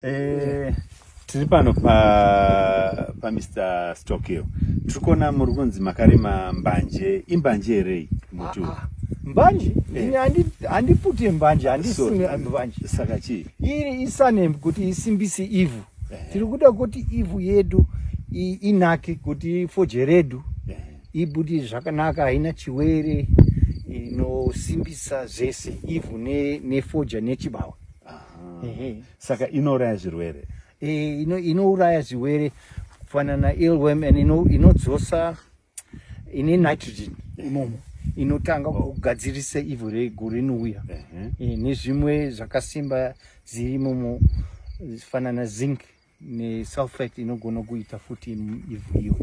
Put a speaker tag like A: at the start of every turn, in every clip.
A: Eh, tiri pano pa, pa Mr. Stockhill. Tiri kuona muri kunzi makarima mbanje. Imbanje here iyi? Muti uyu? Ah, ah. Mbanje?
B: Eh. Ini handi- handipute mbanje, handisime Sorry. mbanje. Saka chii? Iri
A: isanem
B: kuti isimbise ivhu. Eh. Tiri kuda kuti ivhu yedu i- inake, kuti foje redu Eh, ibudi zvakanaka haina chiwere inosimbisa zvese ivhu ne- nefoja nechibawa
A: saka inouraya zvirwere eh, inouraya
B: zvirwere kufanana ilwem and inodzosa ine nitrogen imomo inotanga kugadzirisa ivhu rego rinouya eh, nezvimwe zvakasimba ziri imomo fanana zinc nesulfate inogona kuita futi ivhu iyo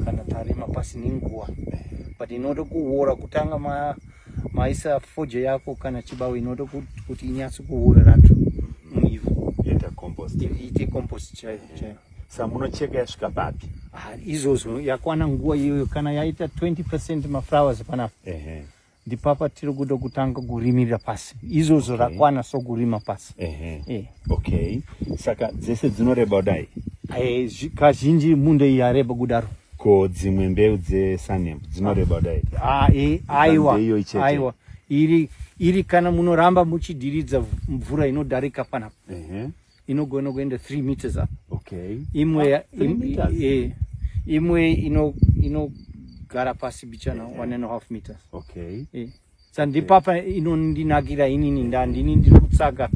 B: kana tarima pasi nenguva but inoda kuwora kutanga ma, maisa foje yako kana chibawo inoda kuti inyatsi kuwora racho muivhu iite compost chaiyo chaiyo sa munocheka
A: yasvika papi ah, izvozvo
B: yakwana nguva iyoyo kana yaita 20 percent maflowers panapa uh -huh. ndipapa tiri kuda kutanga kurimirira pasi izvozvo okay. rakwana so kurima pasi uh -huh. yeah. okay
A: saka dzese dzinoreba kudai eh, kazhinji
B: munda iyi yareba kudaro ko dzimwe
A: mbeu dzesanem dzinoreba kudai ah, eh, aiwa aiwa
B: iri iri kana munoramba muchidiridza mvura inodarika panapa uh -huh. inogona kuenda 3 meters up okay imwe
A: ah, im,
B: e, imwe ino ino gara pasi bichana yeah. one and a half meters okay
A: e. sandipapa
B: okay. inondinakira inini nda ndini ndiri kutsaka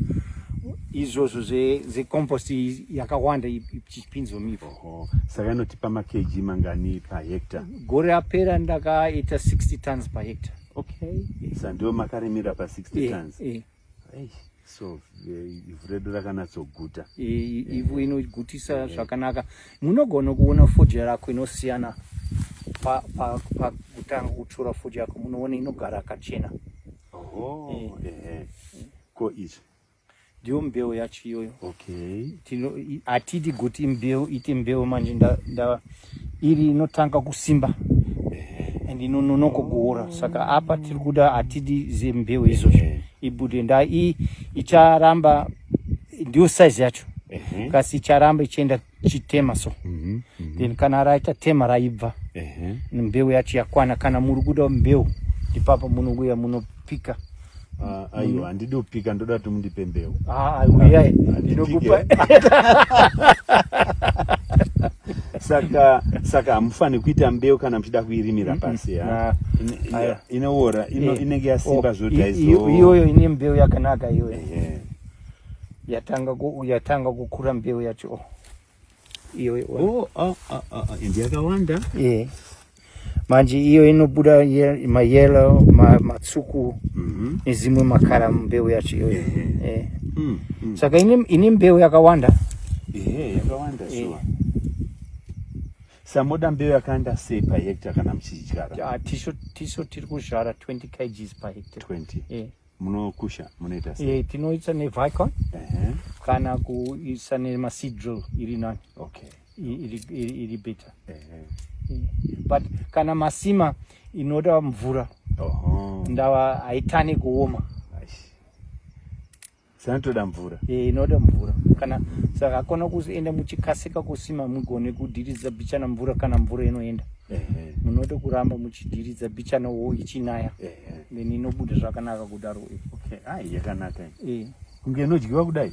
B: izvozvo zvecompost yakawanda ichipinzwa mivhu saka inotipa
A: makeji mangani pahecta gore apera
B: ndakaita 60 tons pahecta okay yeah.
A: sandiwo makarimira pa 60 yeah. tons yeah. so eh, ivhu redu rakanatsoguta eh, ivhu eh.
B: inogutisa zvakanaka munogona kuona fodya rako inosiyana pakutanga kutsvura fodya yako munoona inogara akachena
A: ko izvi ndiyo mbeu
B: yacho iyoyo
A: hatidi
B: kuti mbeu ite mbeu manje iri inotanga kusimba and inononoko kuora saka apa tiri kuda hatidi zembeu izvozvo ibude nda i icharamba ndiyo size yacho kasi icharamba ichienda chitema so mhm, mhm. then kana raita tema raibva mbeu yacho yakwana kana muri kuda mbeu ndipapa munouya munopika Ah, aiwa
A: handidi kupika ndoda kuti mundipe mbeu Ah, uyai
B: ndinokupa
A: saka saka hamufaniri kuita mbeu kana muchida kuirimira pasi ha? Nah. Ine- ine- Aya. inoora ino- Eh, inenge yasimba oh, zvoti i- i- aizo iyoyo ine mbeu
B: yakanaka iyoyo Ehe. yatanga ku- yatanga kukura mbeu yacho iyo oh, oh, oh, oh.
A: and yakawanda yeah.
B: manje iyo inobuda ye, mayelo ma, matsuku mm -hmm. nezimwe makara mbeu yacho iyoyo yeah. yeah. yeah. mm, mm. saka ine, ine mbeu yakawanda yeah, yakawanda
A: yeah. sure samoda mbeu yakawanda sei pahekta kana muchidyara tiso tiri
B: kuzvara 20 kgs pahekta 20 yeah.
A: munokusha munoita sei eh tinoisa ne vicon ehe
B: kana kuisa ne ma seed drill iri nani okay
A: iri iri
B: iri better ehe but kana masima inoda mvura oho ndava haitane kuoma
A: sanotoda mvura eh inoda mvura
B: kana saka kona kuenda muchikasika kusima mugone kudiridza bichana mvura kana mvura inoenda ehe munoda kuramba muchidiridza bichana wo ichinaya ehe then inobuda zvakanaka kudaro okay ai
A: yakanaka eh kunge inodyiwa
B: kudai